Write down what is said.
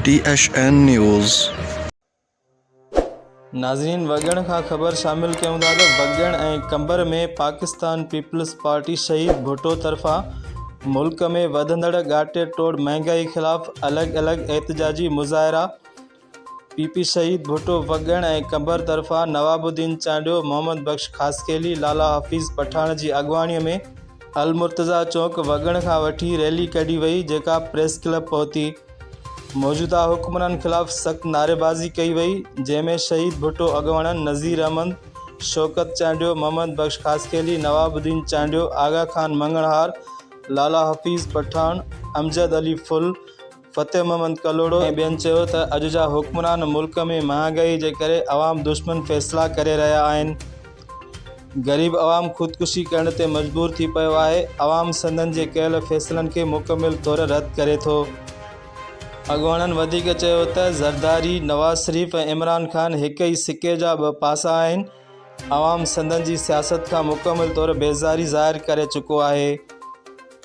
ٽي H N news. ناظرين وڳڻ کان خبر شامل ڪيون ٿا ته وڳڻ ۽ قمبر ۾ پاڪستان پيپلز پارٽي شهيد ڀٽو طرفان ملڪ ۾ وڌندڙ ڳاٽي ٽوڙ مهانگائي خلاف الڳ الڳ احتجاجي مظاهرا پي پي سعيد ڀٽو وڳڻ ۽ قنبر طرفان نواب الدين چانڊيو، محمد بخش خاصخيلي، لالا حفيظ پٺاڻ جي اڳواڻي ۾ المرتضيٰ چوڪ وڳڻ کان وٺي ريلي ڪڍي وئي جيڪا پريس ڪلب پهتي موجوده حڪمرانن خلاف سخت نعريبازي ڪئي وئي جنهن ۾ شهيد ڀٽو اڳواڻن نظير احمد، شوڪت چانڊيو، محمد بخش خاصخيلي، نواب الدين چانڊيو، آغا خان مڱڻهار، لالا حفيظ پٺاڻ، امجد علي ڦل، فتح محمد ڪلهوڙو ۽ ٻين چيو ته اڄ جا حڪمران ملڪ ۾ مهانگائي جي ڪري عوام دشمن فيصلا ڪري رهيا آهن، غريب عوام خودڪشي ڪرڻ تي مجبور ٿي پيو آهي، عوام سندن جي ڪيل فيصلن کي مڪمل طور رد ڪري ٿو. اڳواڻن وڌيڪ چيو ته زرداري، نواز شريف ۽ عمران خان هڪ ئي سڪي جا ٻه پاسا آهن، عوام سندن جي سياست کان مڪمل طور بيزاري ظاهر ڪري چڪو آهي.